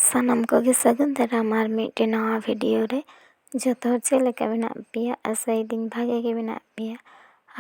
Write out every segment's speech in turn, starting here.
ᱥᱟᱱᱟᱢ ᱠᱚᱜᱮ ᱥᱟᱹᱜᱩᱱ ᱫᱟᱨᱟᱢ ᱟᱨ ᱢᱤᱫᱴᱮᱱ ᱱᱟᱣᱟ ᱵᱷᱤᱰᱤᱭᱳ ᱨᱮ ᱡᱚᱛᱚ ᱦᱚᱲ ᱪᱮᱫ ᱞᱮᱠᱟ ᱢᱮᱱᱟᱜ ᱯᱮᱭᱟ ᱟᱥᱟᱭᱮᱫᱟᱹᱧ ᱵᱷᱟᱜᱮ ᱜᱮ ᱢᱮᱱᱟᱜ ᱯᱮᱭᱟ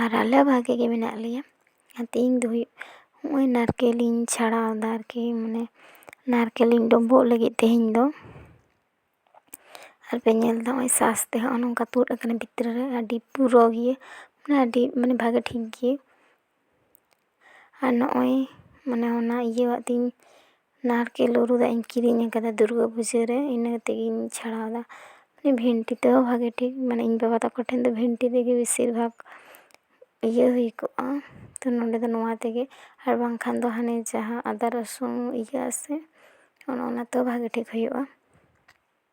ᱟᱨ ᱟᱞᱮ ᱦᱚᱸ ᱵᱷᱟᱜᱮ ᱜᱮ ᱢᱮᱱᱟᱜ ᱞᱮᱭᱟ ᱟᱨ ᱛᱮᱦᱮᱧ ᱫᱚ ᱦᱩᱭᱩᱜ ᱦᱚᱸᱜᱼᱚᱭ ᱱᱟᱲᱠᱮᱞ ᱤᱧ ᱪᱷᱟᱲᱟᱣᱫᱟ ᱟᱨᱠᱤ ᱢᱟᱱᱮ ᱱᱟᱲᱠᱮᱞ ᱤᱧ ᱰᱳᱵᱳᱜ ᱞᱟᱹᱜᱤᱫ ᱛᱮᱦᱮᱧ ᱫᱚ ᱟᱨᱯᱮ ᱧᱮᱞᱫᱟ ᱦᱚᱸᱜᱼᱚᱭ ᱥᱟᱥ ᱛᱮ ᱦᱚᱸᱜᱼᱚᱭ ᱱᱚᱝᱠᱟ ᱛᱩᱫ ᱠᱟᱱᱟ ᱵᱷᱤᱛᱨᱤ ᱨᱮ ᱟᱹᱰᱤ ᱯᱩᱨᱟᱹ ᱜᱮ ᱢᱟᱱᱮ ᱟᱹᱰᱤ ᱢᱟᱱᱮ ᱵᱷᱟᱜᱮ ᱴᱷᱤᱠ ᱜᱮ ᱟᱨ ᱱᱚᱜᱼᱚᱭ ᱢᱟᱱᱮ ᱚᱱᱟ ᱤᱭᱟᱹᱣᱟᱜ ᱛᱤᱧ ᱱᱟᱨᱠᱮᱞ ᱩᱨᱩᱫᱟᱜ ᱤᱧ ᱠᱤᱨᱤᱧ ᱟᱠᱟᱫᱟ ᱫᱩᱨᱜᱟᱹ ᱯᱩᱡᱟᱹ ᱨᱮ ᱤᱱᱟᱹ ᱛᱮᱜᱤᱧ ᱪᱷᱟᱲᱟᱣᱫᱟ ᱢᱟᱱᱮ ᱵᱷᱮᱱᱴᱤ ᱛᱮᱦᱚᱸ ᱵᱷᱟᱜᱮ ᱴᱷᱤᱠ ᱢᱟᱱᱮ ᱤᱧ ᱵᱟᱵᱟ ᱛᱟᱠᱚ ᱴᱷᱮᱱ ᱫᱚ ᱵᱷᱮᱱᱴᱤ ᱛᱮᱜᱮ ᱵᱮᱥᱤᱨ ᱵᱷᱟᱜᱽ ᱤᱭᱟᱹ ᱦᱩᱭ ᱠᱚᱜᱼᱟ ᱛᱚ ᱱᱚᱰᱮ ᱫᱚ ᱱᱚᱣᱟ ᱛᱮᱜᱮ ᱟᱨ ᱵᱟᱝᱠᱷᱟᱱ ᱫᱚ ᱦᱟᱱᱮ ᱡᱟᱦᱟᱸ ᱟᱫᱟ ᱨᱟᱹᱥᱩᱱ ᱤᱭᱟᱹᱜ ᱟᱥᱮ ᱚᱱᱮ ᱚᱱᱟ ᱛᱮᱦᱚᱸ ᱵᱷᱟᱜᱮ ᱴᱷᱤᱠ ᱦᱩᱭᱩᱜᱼᱟ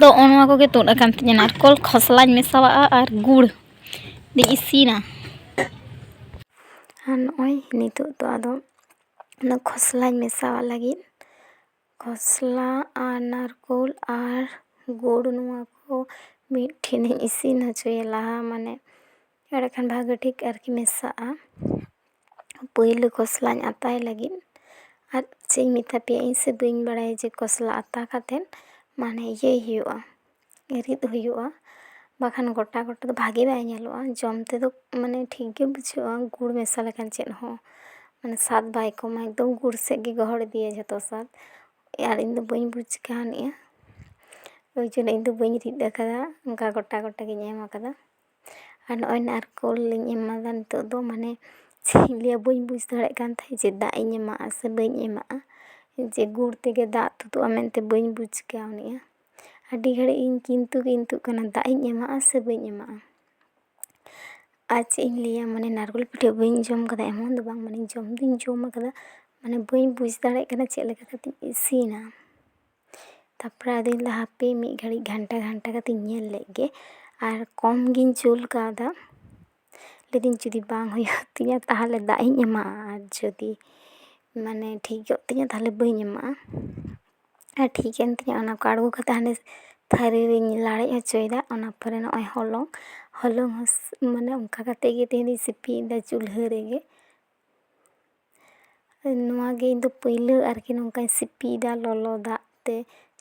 ᱫᱚ ᱚᱱᱟ ᱠᱚᱜᱮ ᱛᱩᱫ ᱟᱠᱟᱱ ᱛᱤᱧᱟᱹ ᱱᱟᱨᱠᱚᱞ ᱠᱷᱚᱥᱞᱟᱧ ᱢᱮᱥᱟᱣᱟᱜᱼᱟ ᱟᱨ ᱜᱩᱲ ᱫᱚ ᱤᱥᱤᱱᱟ ᱟᱨ ᱱᱚᱜᱼᱚᱭ ᱱᱤᱛᱚᱜ ᱫᱚ ᱟᱫᱚ ᱚᱱᱟ ᱠᱷᱚᱥᱞᱟᱧ ᱢᱮᱥᱟᱣᱟᱜ ᱞᱟᱹᱜᱤᱫ ᱠᱷᱚᱥᱞᱟ ᱟᱨ ᱱᱟᱨᱠᱳᱞ ᱟᱨ ᱜᱩᱲ ᱱᱚᱣᱟ ᱠᱚ ᱢᱤᱫ ᱴᱷᱮᱱᱤᱧ ᱤᱥᱤᱱ ᱦᱚᱪᱚᱭᱟ ᱞᱟᱦᱟ ᱢᱟᱱᱮ ᱮᱸᱰᱮ ᱠᱷᱟᱱ ᱵᱷᱟᱜᱮ ᱴᱷᱤᱠ ᱟᱨᱠᱤ ᱢᱮᱥᱟᱜᱼᱟ ᱯᱳᱭᱞᱳ ᱠᱷᱚᱥᱞᱟᱧ ᱟᱛᱟᱭ ᱞᱟᱹᱜᱤᱫ ᱟᱨ ᱪᱮᱫ ᱤᱧ ᱢᱮᱛᱟ ᱯᱮᱭᱟ ᱤᱧ ᱥᱮ ᱵᱟᱹᱧ ᱵᱟᱲᱟᱭᱟ ᱡᱮ ᱠᱷᱚᱥᱞᱟ ᱟᱛᱟ ᱠᱟᱛᱮ ᱢᱟᱱᱮ ᱤᱭᱟᱹᱭ ᱦᱩᱭᱩᱜᱼᱟ ᱨᱤᱫ ᱦᱩᱭᱩᱜᱼᱟ ᱵᱟᱠᱷᱟᱱ ᱜᱚᱴᱟ ᱜᱚᱴᱟ ᱫᱚ ᱵᱷᱟᱜᱮ ᱵᱟᱭ ᱧᱮᱞᱚᱜᱼᱟ ᱡᱚᱢ ᱛᱮᱫᱚ ᱢᱟᱱᱮ ᱴᱷᱤᱠ ᱜᱮ ᱵᱩᱡᱷᱟᱹᱜᱼᱟ ᱜᱩᱲ ᱢᱮᱥᱟ ᱞᱮᱠᱷᱟᱱ ᱪᱮᱫ ᱦᱚᱸ ᱢᱟᱱᱮ ᱥᱟᱫ ᱵᱟᱭ ᱠᱚᱢᱟ ᱮᱠᱫᱚᱢ ᱜᱩᱲ ᱥᱮᱫ ᱜᱮ ᱜᱚᱦᱚᱲ ᱤᱫᱤᱭᱟᱭ ᱡᱷᱚᱛᱚ ᱥᱟᱫ ᱟᱨ ᱤᱧ ᱫᱚ ᱵᱟᱹᱧ ᱵᱩᱡᱽ ᱠᱟᱣᱱᱤᱜᱼᱟ ᱳᱭ ᱡᱚᱱᱱᱚ ᱤᱧ ᱫᱚ ᱵᱟᱹᱧ ᱨᱤᱫ ᱟᱠᱟᱫᱟ ᱚᱱᱠᱟ ᱜᱚᱴᱟ ᱜᱚᱴᱟ ᱜᱮᱧ ᱮᱢ ᱟᱠᱟᱫᱟ ᱟᱨ ᱱᱚᱜᱼᱚᱭ ᱱᱟ ᱟᱨ ᱠᱚᱞ ᱞᱤᱧ ᱮᱢᱟᱫᱟ ᱱᱤᱛᱚᱜ ᱫᱚ ᱢᱟᱱᱮ ᱪᱮᱫ ᱤᱧ ᱞᱟᱹᱭᱟ ᱵᱟᱹᱧ ᱵᱩᱡᱽ ᱫᱟᱲᱮᱭᱟᱜ ᱠᱟᱱ ᱛᱟᱦᱮᱸᱫ ᱡᱮ ᱫᱟᱜ ᱤᱧ ᱮᱢᱟᱜᱼᱟ ᱥᱮ ᱵᱟᱹᱧ ᱮᱢᱟᱜᱼᱟ ᱡᱮ ᱜᱩᱲ ᱛᱮᱜᱮ ᱫᱟᱜ ᱛᱩᱫᱩᱜᱼᱟ ᱢᱮᱱᱛᱮ ᱵᱟᱹᱧ ᱵᱩᱡᱽ ᱠᱟᱣᱱᱤᱜᱼᱟ ᱟᱹᱰᱤ ᱜᱷᱟᱹᱲᱤᱡ ᱤᱧ ᱠᱤᱱᱛᱩ ᱠᱤᱱᱛᱩᱜ ᱠᱟᱱᱟ ᱫᱟᱜ ᱤᱧ ᱮᱢᱟᱜᱼᱟ ᱥᱮ ᱵᱟᱹᱧ ᱮᱢᱟᱜᱼᱟ ᱟᱨ ᱪᱮᱫ ᱤᱧ ᱞᱟᱹᱭᱟ ᱢᱟᱱᱮ ᱱᱟᱲᱠᱳᱞ ᱯᱤᱴᱷᱟᱹ ᱵᱟᱹᱧ ᱡᱚᱢ ᱠᱟᱫᱟ ᱮᱢᱚᱱ ᱫᱚ ᱵᱟᱝ ᱢᱟᱱᱮ ᱡᱚᱢ ᱫᱩᱧ ᱡᱚᱢ ᱠᱟᱫᱟ ᱢᱟᱱᱮ ᱵᱟᱹᱧ ᱵᱩᱡᱽ ᱫᱟᱲᱮᱭᱟᱜ ᱠᱟᱱᱟ ᱪᱮᱫ ᱞᱮᱠᱟ ᱠᱟᱛᱮᱧ ᱤᱥᱤᱱᱟ ᱛᱟᱨᱯᱚᱨᱮ ᱟᱫᱚᱧ ᱞᱟᱹᱭᱫᱟ ᱦᱟᱯᱮ ᱢᱤᱫ ᱜᱷᱟᱹᱲᱤᱡ ᱜᱷᱟᱱᱴᱟ ᱜᱷᱟᱱᱴᱟ ᱠᱟᱛᱮᱜ ᱤᱧ ᱧᱮᱞ ᱞᱮᱜ ᱜᱮ ᱟᱨ ᱠᱚᱢ ᱜᱤᱧ ᱡᱩᱞ ᱠᱟᱣᱫᱟ ᱞᱟᱹᱭ ᱫᱟᱹᱧ ᱡᱩᱫᱤ ᱵᱟᱝ ᱦᱩᱭᱩᱜ ᱛᱤᱧᱟ ᱛᱟᱦᱚᱞᱮ ᱫᱟᱜ ᱤᱧ ᱮᱢᱟᱜᱼᱟ ᱟᱨ ᱡᱩᱫᱤ ᱢᱟᱱᱮ ᱴᱷᱤᱠ ᱜᱮ ᱦᱩᱭᱩᱜ ᱛᱤᱧᱟ ᱛᱟᱦᱚᱞᱮ ᱵᱟᱹᱧ ᱮᱢᱟᱜᱼᱟ ᱟᱨ ᱴᱷᱤᱠ ᱮᱱ ᱛᱤᱧᱟ ᱚᱱᱟ ᱠᱚ ᱟᱬᱜᱚ ᱠᱟᱛᱮᱜ ᱦᱟᱱᱮ ᱛᱷᱟᱹᱨᱤ ᱨᱤᱧ ᱞᱟᱲᱮᱡ ᱦᱚᱪᱚᱭᱮᱫᱟ ᱚᱱᱟ ᱯᱚᱨᱮ ᱱᱚᱜᱼᱚᱭ ᱦᱚᱞᱚᱝ ᱦᱚᱞᱚᱝ ᱦᱚᱸ ᱢᱟᱱᱮ ᱚᱱᱠᱟ ᱠᱟᱛᱮᱜ ᱜᱮ ᱛᱮᱦᱮᱧ ᱫᱚᱧ ᱥᱤᱯᱤᱭᱮᱫᱟ ᱪᱩᱞᱦᱟᱹ ᱨᱮᱜᱮ ᱱᱚᱣᱟ ᱜᱮ ᱤᱧ ᱫᱚ ᱯᱟᱹᱭᱞᱟᱹ ᱟᱨᱠᱤ ᱱᱚᱝᱠᱟᱧ ᱥᱤᱯᱤᱭᱮᱫᱟ ᱞᱚᱞᱚ ᱫᱟᱜ ᱛᱮ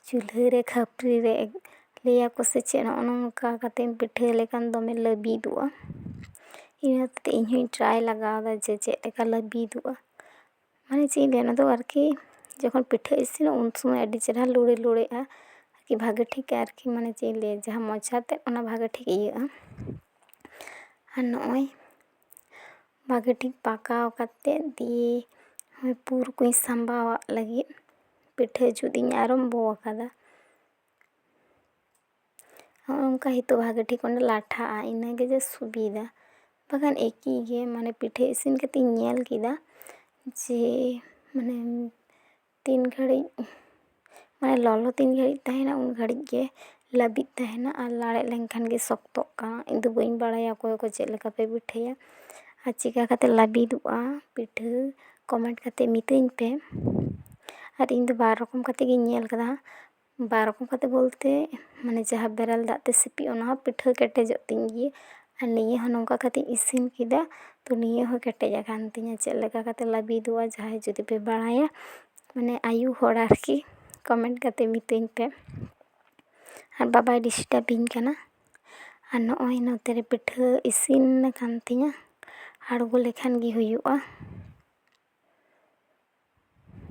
ᱪᱩᱞᱦᱟᱹ ᱨᱮ ᱠᱷᱟᱹᱯᱟᱹᱨᱤ ᱨᱮ ᱞᱟᱹᱭᱟᱠᱚ ᱥᱮ ᱪᱮᱫ ᱱᱚᱜᱼᱚᱭ ᱱᱚᱝᱠᱟ ᱠᱟᱛᱮᱢ ᱯᱤᱴᱷᱟᱹ ᱞᱮᱠᱷᱟᱱ ᱫᱚᱢᱮ ᱞᱟᱹᱵᱤᱫᱚᱜᱼᱟ ᱤᱱᱟᱹ ᱦᱚᱛᱮᱡᱛᱮ ᱤᱧ ᱦᱚᱸᱧ ᱴᱨᱟᱭ ᱞᱟᱜᱟᱣᱫᱟ ᱡᱮ ᱪᱮᱫ ᱞᱮᱠᱟ ᱞᱟᱹᱵᱤᱫᱚᱜᱼᱟ ᱢᱟᱱᱮ ᱪᱮᱫ ᱤᱧ ᱞᱟᱹᱭᱟ ᱚᱱᱟ ᱫᱚ ᱟᱨᱠᱤ ᱡᱚᱠᱷᱚᱱ ᱯᱤᱴᱷᱟᱹ ᱤᱥᱤᱱᱚᱜᱼᱟ ᱩᱱ ᱥᱚᱢᱚᱭ ᱟᱹᱰᱤ ᱪᱮᱦᱨᱟ ᱞᱩᱲᱮ ᱞᱩᱲᱮᱜᱼᱟ ᱟᱨᱠᱤ ᱵᱷᱟᱜᱮ ᱴᱷᱤᱠ ᱟᱨᱠᱤ ᱢᱟᱱᱮ ᱪᱮᱫ ᱤᱧ ᱞᱟᱹᱭᱟ ᱡᱟᱦᱟᱸ ᱢᱚᱪᱟᱛᱮ ᱚᱱᱟ ᱵᱷᱟᱜᱮ ᱴᱷᱤᱠ ᱤᱭᱟᱹᱜᱼᱟ ᱟᱨ ᱱᱚᱜᱼᱚᱭ ᱵᱷᱟᱜᱮ ᱴᱷᱤᱠ ᱯᱟᱠᱟᱣ ᱠᱟᱛᱮᱜ ᱫᱤᱭᱮ ᱯᱩᱨ ᱠᱚᱧ ᱥᱟᱢᱵᱟᱣ ᱟᱜ ᱞᱟᱹᱜᱤᱫ ᱯᱤᱴᱷᱟᱹ ᱡᱩᱛ ᱤᱧ ᱟᱨᱚᱢᱵᱚ ᱟᱠᱟᱫᱟ ᱦᱚᱜᱼᱚᱭ ᱱᱚᱝᱠᱟ ᱱᱤᱛᱚᱜ ᱵᱷᱟᱜᱮ ᱴᱷᱤᱠ ᱚᱱᱟ ᱞᱟᱴᱷᱟᱜᱼᱟ ᱤᱱᱟᱹᱜᱮ ᱡᱟ ᱥᱩᱵᱤᱫᱷᱟ ᱵᱟᱠᱷᱟᱱ ᱮᱠᱤ ᱜᱮ ᱢᱟᱱᱮ ᱯᱤᱴᱷᱟᱹ ᱤᱥᱤᱱ ᱠᱟᱛᱮᱜ ᱤᱧ ᱧᱮᱞ ᱠᱮᱫᱟ ᱡᱮ ᱢᱟᱱᱮ ᱛᱤᱱ ᱜᱷᱟᱹᱲᱤᱡ ᱢᱟᱱᱮ ᱞᱚᱞᱚ ᱛᱤᱱ ᱜᱷᱟᱹᱲᱤᱡ ᱛᱟᱦᱮᱱᱟ ᱩᱱ ᱜᱷᱟᱹᱲᱤᱡ ᱜᱮ ᱞᱟᱹᱵᱤᱫ ᱛᱟᱦᱮᱱᱟ ᱟᱨ ᱞᱟᱲᱮᱡ ᱞᱮᱱᱠᱷᱟᱱ ᱜᱮ ᱥᱚᱠᱛᱚᱜ ᱠᱟᱱᱟ ᱤᱧ ᱫᱚ ᱵᱟᱹᱧ ᱵᱟᱲᱟᱭᱟ ᱚᱠᱚᱭ ᱚᱠᱚᱭ ᱪᱮᱫ ᱞᱮᱠᱟ ᱯᱮ ᱯᱤᱴᱷᱟᱹᱭᱟ ᱟᱨ ᱪᱤᱠᱟᱹ ᱠᱟᱛᱮ ᱞᱟᱹᱵᱤᱫᱚᱜᱼᱟ ᱯᱤᱴᱷᱟᱹ ᱠᱚᱢᱮᱱᱴ ᱠᱟᱛᱮ ᱢᱤᱛᱟᱹᱧ ᱯᱮ ᱟᱨ ᱤᱧ ᱫᱚ ᱵᱟᱨ ᱨᱚᱠᱚᱢ ᱠᱟᱛᱮ ᱜᱮᱧ ᱧᱮᱞ ᱠᱟᱫᱟ ᱵᱟᱨ ᱨᱚᱠᱚᱢ ᱠᱟᱛᱮ ᱵᱚᱞᱛᱮ ᱢᱟᱱᱮ ᱡᱟᱦᱟᱸ ᱵᱮᱨᱮᱞ ᱫᱟᱜ ᱛᱮ ᱥᱤᱯᱤ ᱚᱱᱟ ᱦᱚᱸ ᱯᱤᱴᱷᱟᱹ ᱠᱮᱴᱮᱡᱚᱜ ᱛᱤᱧ ᱜᱮᱭᱟ ᱟᱨ ᱱᱤᱭᱟᱹ ᱦᱚᱸ ᱱᱚᱝᱠᱟ ᱠᱟᱛᱮ ᱤᱥᱤᱱ ᱠᱮᱫᱟ ᱛᱚ ᱱᱤᱭᱟᱹ ᱦᱚᱸ ᱠᱮᱴᱮᱡ ᱟᱠᱟᱱ ᱛᱤᱧᱟᱹ ᱪᱮᱫ ᱞᱮᱠᱟ ᱠᱟᱛᱮ ᱞᱟᱹᱵᱤᱫᱚᱜᱼᱟ ᱡᱟᱦᱟᱸᱭ ᱡᱩᱫᱤ ᱯᱮ ᱵᱟᱲᱟᱭᱟ ᱢᱟᱱᱮ ᱟᱭᱳ ᱦᱚᱲ ᱟᱨᱠᱤ ᱠᱚᱢᱮᱱᱴ ᱠᱟᱛᱮ ᱢᱤᱛᱟᱹᱧ ᱯᱮ ᱟᱨ ᱵᱟᱵᱟᱭ ᱰᱤᱥᱴᱟᱵᱽ ᱤᱧ ᱠᱟᱱᱟ ᱟᱨ ᱱᱚᱜᱼᱚᱭ ᱱᱚᱛᱮ ᱨᱮ ᱯᱤᱴᱷᱟᱹ ᱤᱥᱤᱱ ᱟᱠᱟᱱ ᱛᱤᱧᱟᱹ ᱟᱬᱜᱚ ᱞᱮᱠᱷᱟᱱ ᱜᱮ ᱦᱩᱭᱩᱜᱼᱟ